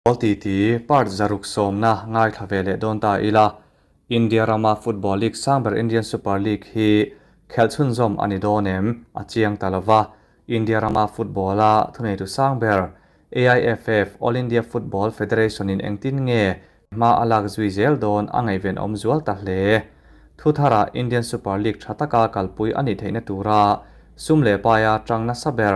Ball ti ti part zaruk sawmna ngaithla ve leh dawn ta ila, India rama Football League sang ber Indian Super League hi khelh chhunzawm a ni dawn em? A chiang ta lova, India rama football-a thuneitu sang ber AIFF, All India Football Federation-in engtin nge hma a lak zui zel dawn a ngaihven awm zual ta hle. Thu thara Indian Super League tha taka kalpui a nih theihna tura sum leh paia tang nasa ber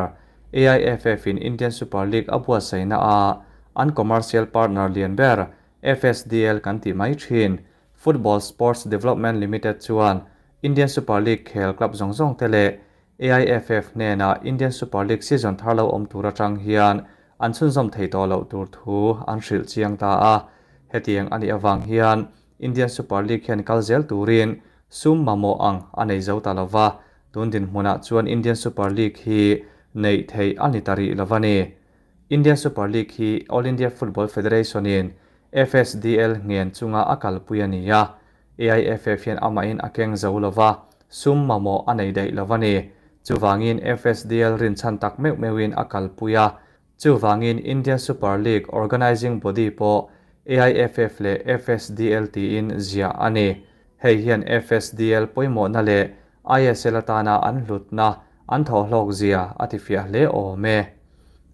AIFF-in Indian Super League a buatsaihna a an commercial partner lian ber FSDL kan tih mai thin Football Sports Development Limited chuan Indian Super League khel club zawng zawng te leh AIFF hnenah Indian Super League season thar lo awm tur atang hian an chhunzawm thei tawh loh tur thu an hrilh chiang ta a. Hetiang a nih avang hian Indian Super League hian kal zel turin sum mamawh ang a nei zo ta lo va, tun dinhmunah chuan Indian Super League hi neih theih a ni ta rih lo a ni. Indian Super League hi All India Football Federation-in, FSDL, ngen chunga a kalpui a ni a, AIFF hian amahin a keng zo lo va, sum mamawh a nei daih lo a ni. Chuvangin FSDL rinchhan tak meuh meuhin a kalpui a, Chuvangin Indian Super League organising body pawh AIFF leh FSDL tiin ziah a ni. Hei hian FSDL pawimawhna leh ISL atana an hlutna an thawhlawk zia a tifiah hle awm e.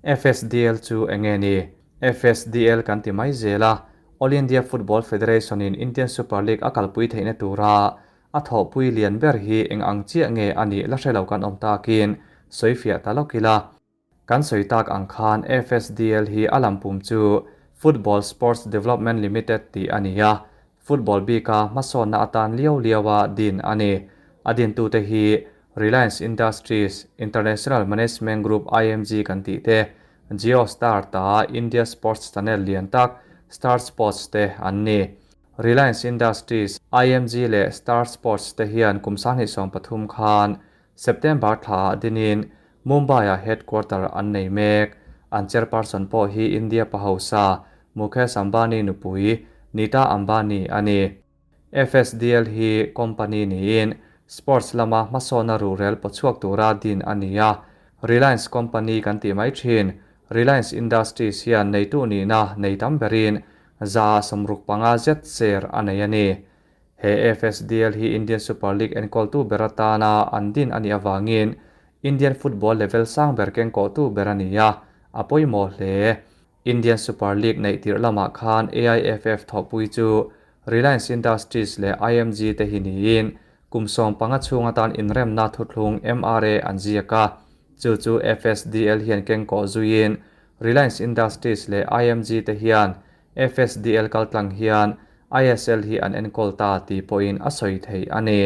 FSDL chu eng nge ni? FSDL kan ti mai zel a, All India Football Federation-in Indian Super League a kalpui theihna tura a thawhpui lian ber hi eng ang chiah nge a nih la hrelo kan awm takin sawifiah ta lawk ila, Kan sawi tak ang khan FSDL hi a lam pum chu Football Sports Development Limited tih a ni a, football bika hmasawnna atan liau liaua din a ni. A dintute hi Reliance Industries, International Management Group, IMG, kan tih te, Jio Star ta, India Sports Channel lian tak, Star Sports te an ni. Reliance Industries, IMG leh Star Sports te hian kum sanghnih sawm pathum khan September thlaah Dinin Mumbai-ah headquarter an nei mek. An chairperson pawh hi India pahausa Mukesh Ambani nupui Nita Ambani a ni. FSDL hi company niin sports lama hmasawhna ruhrel paw chhuak tura din a ni a. Reliance company kan tih mai thin. Reliance Industries hian neitu nihna nei tam berin za sawmruk panga zet share a nei a ni. He FSDL hi Indian Super League enkawltu bera tana an din a nih avangin Indian football level sang ber kengkawhtu ber a ni a, a pawimawh hle. Indian Super League neih tirh lamah khan AIFF thawhpui chu Reliance Industries leh IMG te hi niin kum sawm panga chhung atan inremna thuthlung MRA an ziak a, chu chu FSDL hian kengkawh zuiin Reliance Industries leh IMG te hian FSDL kaltlang hian ISL hi an enkawl ta tih pawhin a sawi theih a ni.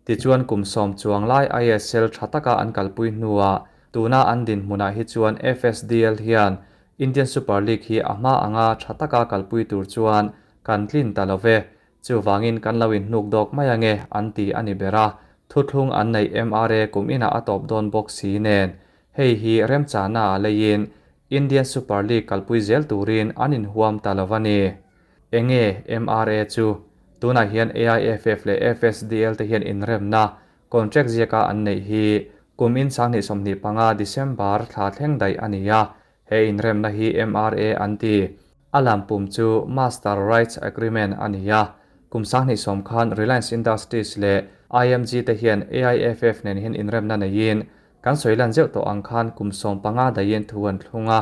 Tichuan kum sawm chuang lai ISL tha taka an kalpui hnuah tuna an dinhmunah hi chuan FSDL hian Indian Super League hi a hma anga tha taka kalpui tur chuan kan tlin ta lo ve, Chuvangin kan lo inhnuk dawk mai ange an ti a ni ber a, thuthlung an neih em a re kum inah a tawp dawn bawk si nen. Hei hi remchana a leiin Indian Super League kalpui zel turin an inhuam ta lo a ni. Eng nge MRA chu tunah hian AIFF leh FSDL te hian inremna, contract ziaka an neih hi kum in sang hnih sawmhnih panga, December, thla thleng daih a ni a, He inremna hi MRA an ti. A lam pum chu Master Rights Agreement a ni a. Kum sanghnih sawm khan Reliance Industries leh IMG te hian AIFF nen hian inremna neiin kan sawi lan zeuh tawh ang khan kum sawm panga daiin thu an thlung a.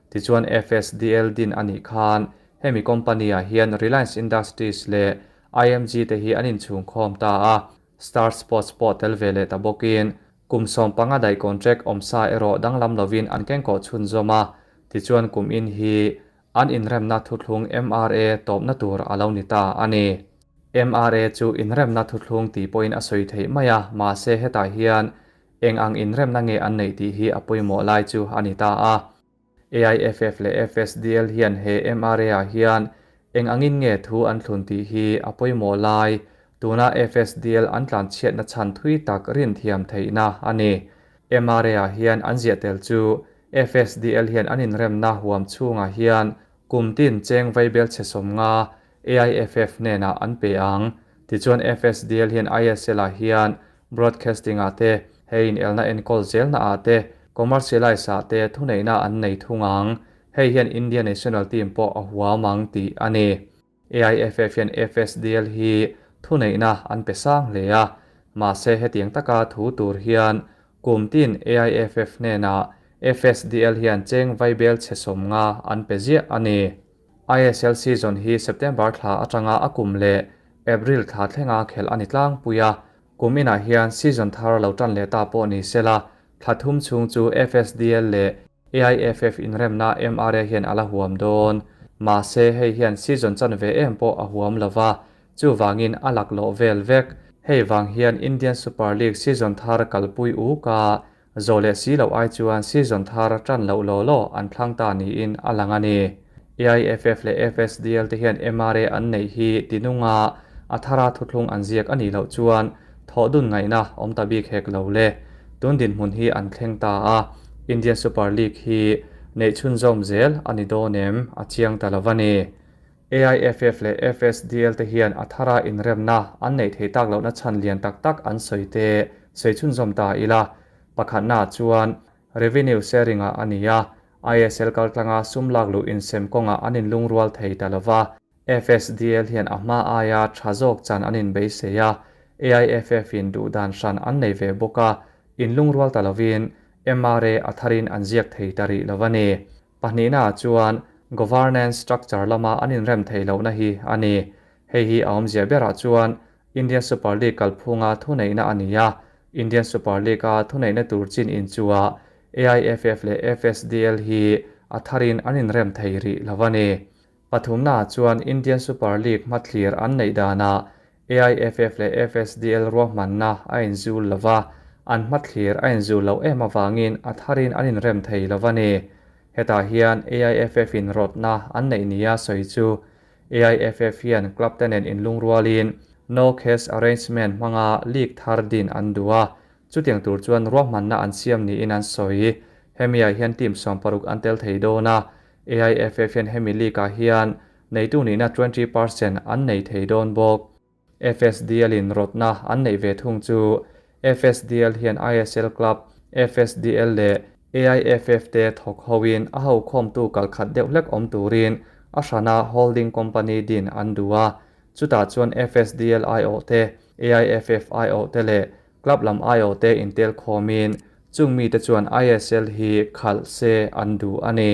Tichuan FSDL din a nih khan hemi company-ah hian Reliance Industries leh IMG te hi an inchhungkhawm ta a, Star Sports pawh tel ve leh ta bawkin Kum sawm panga dai contract awm sa erawh danglam lovin an kengkawh chhun zawm a, tichuan kum in hi an inremna thuthlung MRA tawpna tur a lo ni ta a ni. MRA chu inremna thuthlung tih pawhin a sawi theih mai a, mahse hetah hian eng ang inremna nge an neih tih hi a pawimawh lai chu a ni ta a. AIFF leh FSDL hian he MRA-ah hian eng angin nge thu an thlun tih hi a pawimawh lai, tuna FSDL an tlanchhiatna chhan thui tak rinthiam theihna a ni. MRA-ah hian an ziah tel chu FSDL hian an inremna huam chhungah hian kum tin cheng vaibel chhe sawmnga AIFF hnenah an pe ang. Tichuan FSDL hian ISL-ah hian broadcasting-ah te, he inelna enkawl zelnaah te, commercialise-ah te thuneihna an nei thung ang. Hei hian India National Team pawh a huam ang tih a ni. AIFF hian FSDL hi thuneihna an pe sang hle a. Mahse hetiang taka thu tur hian Kumtin AIFF hnenah FSDL hian cheng vai bel chhe sawmnga an pe ziah a ni. ISL season hi September thla atanga a kum leh April thla thlenga khelh a ni tlangpui a, kum inah hian season thar a lo tan leh ta pawh ni sela, thla thum chhung chu FSDL leh AIFF inremna MRA hian a la huam dawn. Mahse, hei hian season chan ve em pawh a huam lo va, chuvangin a laklawh vel vek. Hei vang hian Indian Super League season thar kalpui uk a Zo leh si loh ai chuan season thar a tan loh law law an thlang ta niin a lang a ni. AIFF leh FSDL te hian MRA an neih hi tinunga a thara thuthlung an ziak a nih loh chuan thawh dun ngaihna awm ta bik hek lo le. Tun dinhmun hi an thleng ta a, Indian Super League hi neih chhunzawm zel a ni dawn em a chiang ta lo va ni. AIFF leh FSDL te hian a thara inremna an neih theih tak lohna chhan lian tak tak an sawi te sawi chhunzawm ta ila pakhatna chuan Revenue Sharing ah a ni a, ISL kaltlanga sum lak luh insem kawnga an inlungrual thei ta lova, FSDL hian a hma aia tha zawk chan an inbeisei a, AIFF in duh dan hran an nei ve bawk a, inlungrual ta lovin MRA a tharin an ziak thei ta rih lova ni. Pahnihna ah chuan governance structure lama an inrem thei lohna hi a ni. Hei hi a awm ziah berah chuan Indian Super League kalphunga thuneihna a ni a, Indian Super League a thuneihna tur chin inchuah AIFF leh FSDL hi a tharin an inrem thei rih lo a ni. Pathumnaah chuan Indian Super League hmathlir an neih danah AIFF leh FSDL ruahmanna a inzul lo va, an hmathlir a inzul lo em avangin a tharin an inrem thei lo a ni. Hetah hian AIFF-in rawtna an neih nia sawi chu AIFF hian club-te nen inlungrualin No Cash Arrangement hmanga league thar din an duh a, chutiang tur chuan ruahmanna an siam niin an sawi. Hemiah hian team sawm paruk an tel thei dawn a, AIFF hian hemi leak-ah hian neitu nihna twenty percent an nei thei dawn bawk. FSDL in rawtna an neih ve thung chu FSDL hian ISL Club, FSDL leh AIFF te thawk hoin a hokhawmtu kal khat deuh hlek awm turin a hrana holding company din an duh a, chutah chuan FSDL aiawh te, AIFF aiawh te leh Club lam aiawh te intel khawmin chung mite chuan ISL hi khalh se an duh a ni.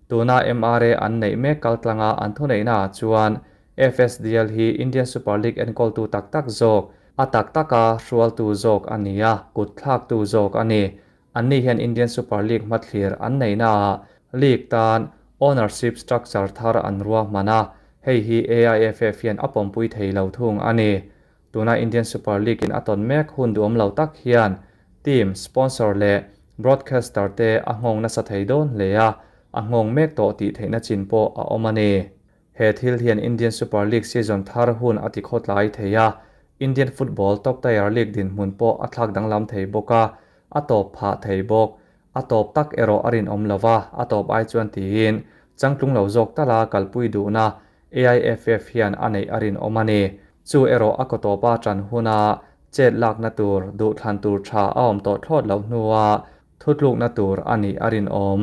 Tuna MRA an neih mek kaltlanga an thuneihnaah chuan FSDL hi Indian Super League enkawltu tak tak zawk, a tak taka hrualtu zawk a ni a, kut thlaktu zawk a ni. Anni hian Indian Super League hmathlir an neihnaah league tan ownership structure thar an ruahman a, hei hi AIFF hian a pawmpui thei lo thung a ni. Tuna Indian Super League-in a tawn mek hun duh awm lo tak hian team, sponsor leh broadcaster te a nghawng nasa thei dawn hle a, a nghawng mek tawh tih theihna chin pawh a awm a ni. He thil hian Indian Super League season thar hun a ti khawt lai thei a, Indian football top tier league dinhmun pawh a thlak danglam thei bawk a, a tawp phah thei bawk. A tawp tak erawh a rinawm lo va, a tawp ai chuan tiin changtlung lo zawk ta la kalpui duhna AIFF hian a neih a rinawm a ni. Chu erawh a kawtawpa ṭan huna chet lakna tur, duh thlan tur ṭha a awm tawh thlawt loh hnua thutlukna tur a nih a rinawm.